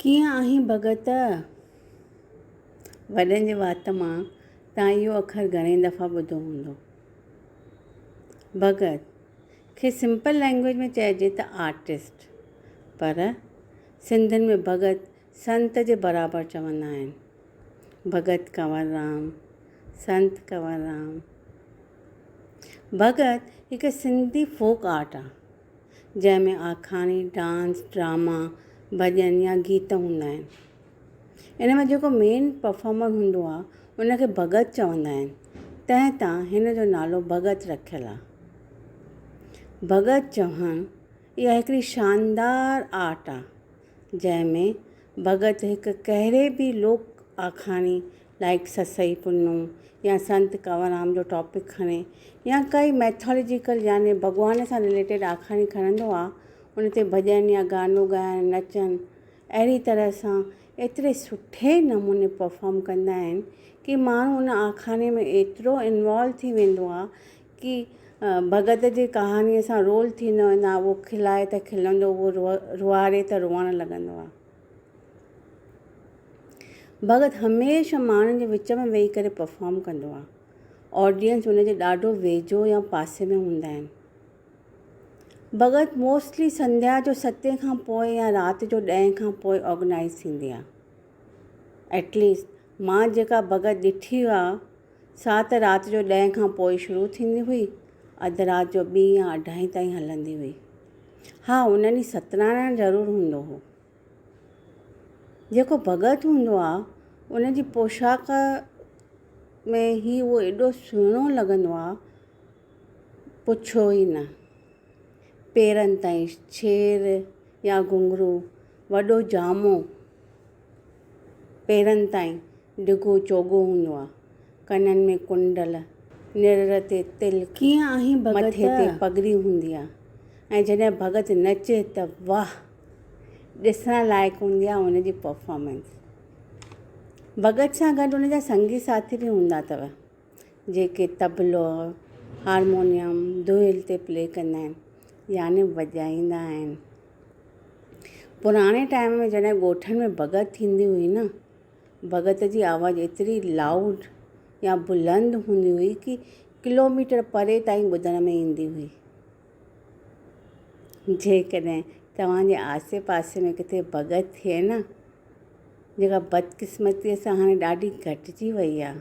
ڪيئن آهين ڀڳت؟ وڏن جي وات مان تان اهو اکر گهڻي دفعا ٻڌو هوندو. ڀڳت کي سمپل لينگويج ۾ چئجي ته آرٽسٽ پر سنڌين ۾ ڀڳت سنت جي برابر چوندا آهن. ڀڳت ڪنور رام، سنت ڪنور رام ڀڳت هڪ سنڌي فوڪ آرٽ آ جنهن ۾ آکاڻي، ڊانس، ڊراما، ڀڄن يا گيت هوندا آهن. ان ۾ جيڪو مين پرفارمر هوندو آ ان کي ڀڳت چوندا آهن تنهن تان هن جو نالو ڀڳت رکيل آ. ڀڳت چوهڻ اها هڪڙي شاندار آرٽ آ. جنهن ۾ ڀڳت هڪ ڪهڙي به لوڪ آکاڻي لائيڪ سسئي پنو يا سنت ڪنوررام جو ٽاپڪ کڻي يا ڪائي ميٿالجيڪل يعني ڀڳوان سان رليٽيڊ آکاڻي کڻندو آ ان تي ڀڄن يا گانو ڳائڻ نچن اهڙي طرح سان ايتري سٺي نموني پرفارم ڪندا آهن ڪي ماڻهو ان آکاڻي ۾ ايترو انوالو ٿي ويندو آ ڪي ڀڳت جي ڪهاڻيء سان رول ٿيندو ويندو آهي، اهو کلائي ته کلندو، اهو روئاري ته روئڻ لڳندو آهي. ڀڳت هميشه ماڻهن جي وچ ۾ ويهي ڪري پرفارم ڪندو آهي. آڊينس ان جي ڏاڍو ويجهو يا پاسي ۾ هوندا آهن. ڀڳت موسٽلي سنڌيا جو ستين کان پوء يا رات جو ڏهين کان پوء آرگنائيز ٿيندي آهي. ايٽ ليسٽ مان جيڪا ڀڳت ڏٺي آ سا ته رات جو ڏهين کان پوء شروع ٿيندي هئي اڌ رات جو ٻي يا اڍائين تائين هلندي هئي. ها ان ڏينهن ستنارائڻ ضرور هوندو هو. جيڪو ڀڳت هوندو آ ان جي پوشاڪ ۾ هي اهو ايڏو سهڻو لڳندو آ پڇو ئي نه. پيرن تائين ڇير، يا گهنگهرو، وڏو جامو پيرن تائين، ڊگهو چوغو هوندو آ، ڪنن ۾ ڪنڊل، نرڙ تي تل، مٿي تي پڳڙي هوندي آ ۽ جڏهن ڀڳت نچي ته واهه! ڏسڻ لائق هوندي آ ان جي پرفارمنس. ڀڳت سان گڏ ان جا سنگي ساٿي به هوندا اٿو. جيڪي طبلو، هارمونيم، دهل تي پلي ڪندا آهن يعني وڄائيندا آهن. پراڻي ٽائيم ۾ جڏهن ڳوٺن ۾ ڀڳت ٿيندي هئي نه ڀڳت جي آواز ايتري لائوڊ يا بلند هوندي هئي ڪي ڪلو ميٽر پري تائين ٻڌڻ ۾ ايندي هئي. جيڪڏهن توهان جي آسي پاسي ۾ ڪٿي ڀڳت ٿئي نه جيڪا بدقسمتي سان هاڻي ڏاڍي گهٽجي وئي آهي.